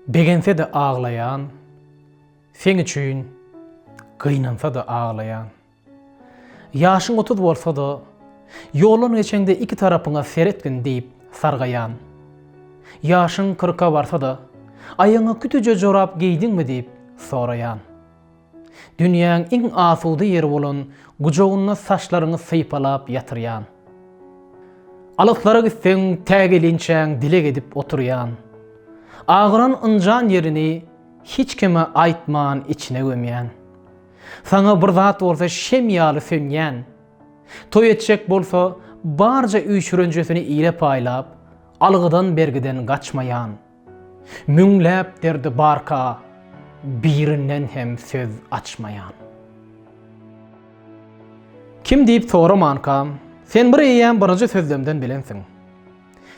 Begense-de aglaýan, Seň üçin gynansa-da aglaýan. Ýaşyň otuz bolsa-da, Ýoldan geçeňde iki tarapyňa seretgin diýip sargaýan. Ýaşyň kyrka barsa-da, Aýagyňa kütüje jorap geýdiňmi diýip soraýan. Dünýäň iň asuda ýeri bolan gujagynda saçlaryňy sypalap ýatyrýan. Alyslara gitseň, tä gelinçäň dileg edip oturýan. Agyran ynjan ýerini hiç kime aýtman içine gömýän. Saňa bir zat bolsa şem ýaly sönýän. Toý etjek bolsa, barja üýşürenjesini ile paýlap, algydan-bergiden gaçmaýan. Müňläp derdi barka birinden hem söz açmaýan. Kim diýip soramanka, sen bir eýýäm birinji sözlemden bilensiň.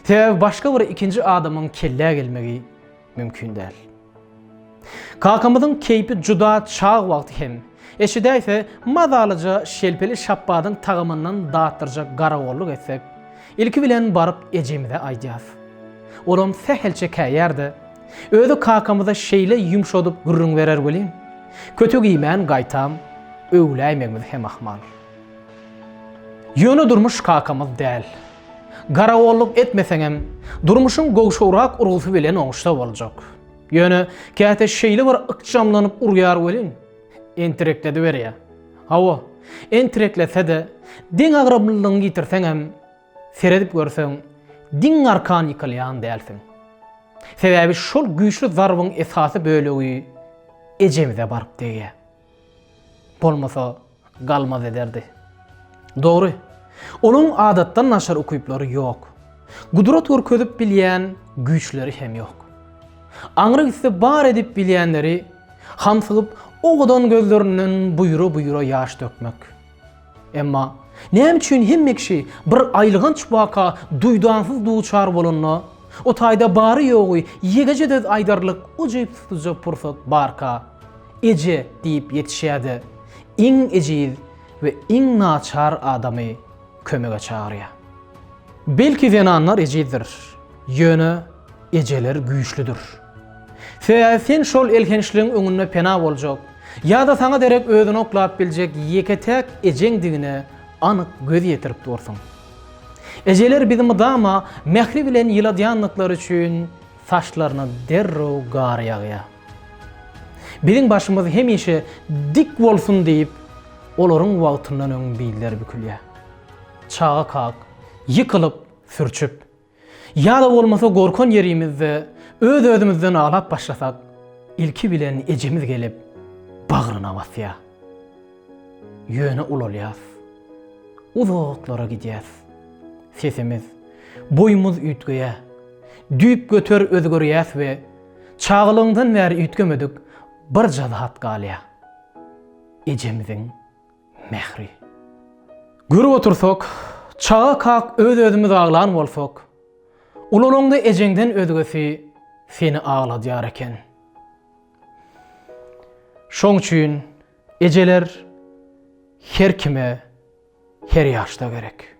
Sebäbi başga bir ikinji adamyň kellä gelmegi mümkin däl. Kakamyzyň keýpi juda çag wagty hem, eşidäýse, mazalyja şelpeli şapbadyň tagamyndan datdyrjak garagolluk etsek, ilki bilen baryp ejemize aýdýas. Olam sähelçe käýär-de, özi kakamyza şeýle ýumşadyp gürrüň berer welin, kötek iýmän gaýtam, öwläýmegimiz hem ahmal. Ýöne durmuş kakamyz däl. Garagolluk etmeseňem, durmuşyň gowşagrak urgusy bilen oňuşsa boljak. Ýöne käte şeýle bir ykjamlanyp urýar welin, entireklediberýär. Hawa, entirekletse-de, deň agramlylygyňy ýitirseňem, seredip görseň, diň arkan ýykylýan dälsiň. Sebäbi şol güýçli zarbyň esasy bölegi ejemize baryp degýär. Bolmasa, galmaz ederdi. Dogry, onuň adatdan naçar ukyplary ýok. Gudrat görkezip bilýän güýçleri hem ýok. Aňry gitse bar edip bilýänleri, hamsygyp owadan gözlerinden buýra-buýra ýaş dökmek. Emma näme üçin hemme kişi bir aýylganç waka duýdansyz duçar bolanda, o taýda bary-ýogy ýegeje söz aýdarlyk ujypsyzja pursat barka, Eje diýip ýetişýär-de, iň ejiz we iň naçar adamy kömege çagyrýar? Belki zenanlar ejizdir, ýöne ejeler güýçlüdir. Sebäbi sen şol elhençligiň öňünde pena boljak, ýa-da saňa derek özüni oklap biljek ýeke-täk ejeňdigine anyk göz ýetirip dursuň. Ejeler bizi mydama mähri bilen ýyladýandyklary üçin saçlaryna derrew gar ýagýar. Biziň başymyz hemişe dik bolsun diýip, olaryň wagtyndan öň billeri bükülýär. Çaga kak, ýykylyp, sürçüp. Ýa-da bolmasa gorkan ýerimizde öz-özümizden aglap başlasak, ilki bilen ejemiz gelip, bagryna basýar. Ýöne ulalýas. Uzaklara gidýäs. Sesimiz, boýumyz üýtgeýär. Düýpgöter özgerýäs we çagalygymdan bäri üýtgemedik birje zat galýar. Ejemiziň mähri. Görüp otursak, çaga kak öz-özümiz aglan bolsak, ulalaňda ejeňden özgesi seni agladýar eken. Şoň üçin ejeler her kime, her ýaşda gerek.